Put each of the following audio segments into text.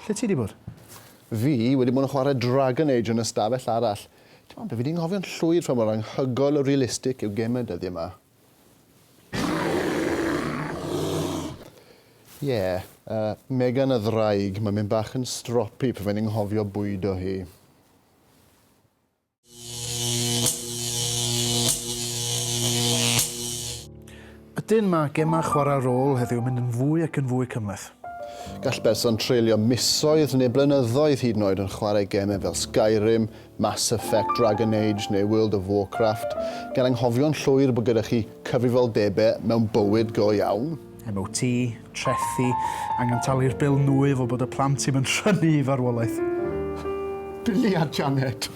Lle ti wedi bod? Fi wedi bod yn chwarae Dragon Age yn ystafell arall. Dim ond be fi wedi anghofio'n llwyr pha mor anhygoel o realistig yw gemau dyddiau yma. Ie, yeah, uh, Megan y ddraig, mae'n mynd bach yn stropi pan fe'n nghofio bwydo hi. Ydyn, mae gemau chwarae rôl heddiw yn mynd yn fwy ac yn fwy cymhleth. Gall person treulio misoedd neu blynyddoedd hyd yn oed yn chwarae gemau fel Skyrim, Mass Effect, Dragon Age neu World of Warcraft, gan anghofio'n llwyr bod gyda chi cyfrifoldebau mewn bywyd go iawn. MOT, trethi, angen talu'r bil nwy fel bod y plant ddim yn rhynnu i farwolaeth. Billy a Janet.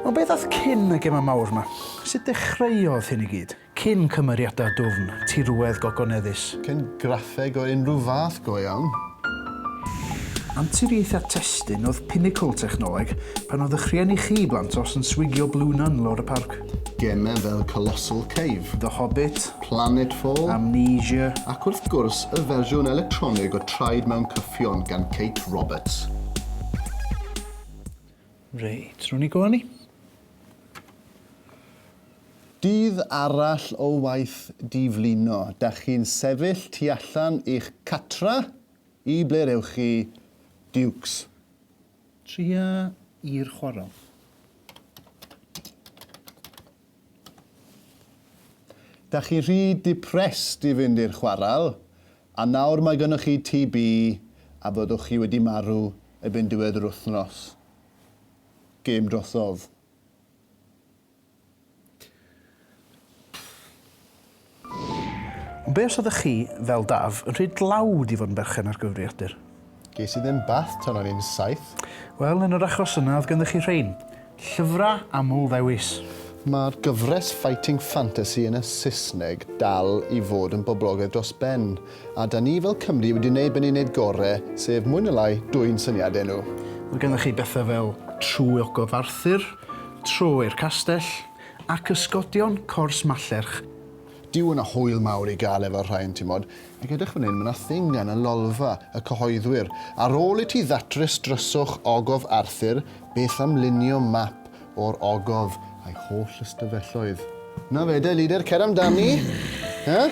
Ond beth ath cyn y gemau mawr 'ma? Sut dechreuodd hyn i gyd? Cyn cymeriadau dwfn, tirwedd gogoneddus? Cyn graffeg o unrhyw fath go iawn? Anturiaethau testun oedd pinacl technoleg pan oedd eich rhieni chi blant os yn swigio Blue Nun lawr y parc. Gemau fel Colossal Cave, The Hobbit, Planetfall, Amnesia, ac wrth gwrs y fersiwn electronig o Traed Mewn Cyffion gan Kate Roberts. Reit, rwy'n i go ni. Dydd arall o waith diflino. Da chi'n sefyll tu allan i'ch catra? I ble'r ewch chi, Dukes? Tria i'r chwarel. Da chi rhy depressed i fynd i'r chwarel, a nawr mae gynnoch chi TB a byddwch chi wedi marw erbyn diwedd yr wythnos. Gêm drosodd. Ond be os oeddech chi, fel Daf, yn rhy dlawd i fod yn berchen ar gyfrifiadur? Ges i ddim bath tan o'n i'n saith. Wel, yn yr achos yna oedd ganddoch chi rhein, llyfrau aml ddewis. Mae'r gyfres Fighting Fantasy yn y Saesneg dal i fod yn boblogaidd dros ben. a 'da ni fel Cymry wedi wneud be ni'n wneud gore, sef mwy neu lai dwyn syniadau nhw. Mae gennych chi bethau fel Trwy Ogof Arthur, Troi'r Castell, a Cysgodion Cors Mallerch. Dyw yna hwyl mawr i gael efo'r rhain, timod. Ac edrych fan hyn, mae 'na thing gan y Lolfa, y cyhoeddwyr. Ar ôl i ti ddatrys dryswch Ogof Arthur, beth am lunio map o'r ogof a'i holl ystafelloedd? Na fe de, Leader, cer amdani! Huh?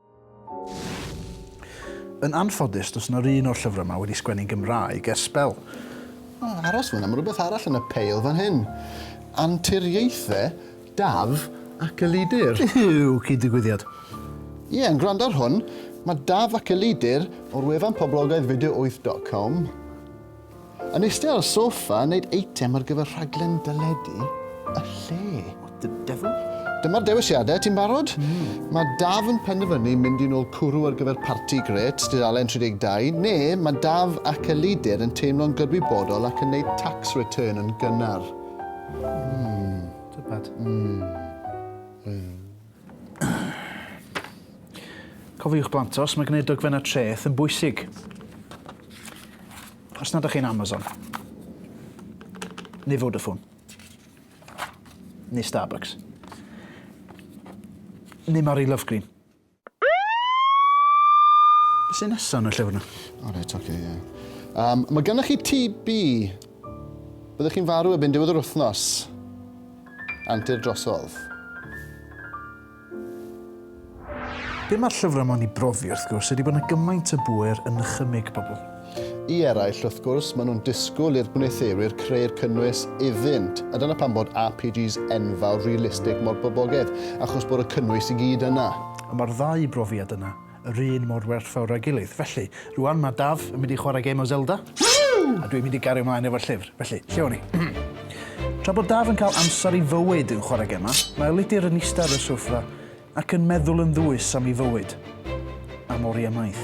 Yn anffodus, does yna run o'r llyfrau yma wedi sgwennu'n Gymraeg ers sbel. O, aros fan'na, mae rhywbeth arall yn y peil fan hyn. Anturiaethau Daf ac Elidir. Yw, cyd-ddigwyddiad. Ie, yn gwrando ar hwn, mae Daf ac Elidir o'r wefan poblogaidd video wyth dot com. Yn eistedd ar y sofa yn neud eitem ar gyfer rhaglen deledu y lle. What the devil? Dyma'r dewisiadau, ti'n barod? Mm. Mae Daf yn penderfynu mynd i'n ôl cwrw ar gyfer parti gret, dudalen 32, neu mae Daf ac Elidir yn teimlo'n gydwybodol ac yn neud tax return yn gynnar. Mm. Tybed. Mm. Mm. Cofiwch blant os mae gwneud dogfennau treth yn bwysig. Os nad ydych chi'n Amazon, neu Vodafone, neu Starbucks, neu Mari Lovegreen. Be sy'n nesaf yn y llyfr yna? O reit, oce, ie. Um, mae gennych chi TB Byddwch chi'n farw erbyn diwedd yr wythnos. Antur drosodd. Be mae'r llyfrau ma'n i brofi wrth gwrs ydy bod yna gymaint o bŵer yn nychymyg pobl. I eraill wrth gwrs maen nhw'n disgwyl i'r gwneuthurwyr creu'r cynnwys iddynt a dyna pam bod RPGs enfawr realistig mor boblogaidd achos bod y cynnwys i gyd yna. A mae'r ddau brofiad yna. yr un mor werthfawr â'i gilydd. Felly, rŵan mae Daf yn mynd i chwarae gêm o Zelda, a dwi'n mynd i gario ymlaen efo'r llyfr. Felly, lle o'n i? Tra bod Daf yn cael amser i fywyd yn chwarae gemau, mae Elidir yn eistedd ar y sofa ac yn meddwl yn ddwys am ei fywyd, am oriau maith.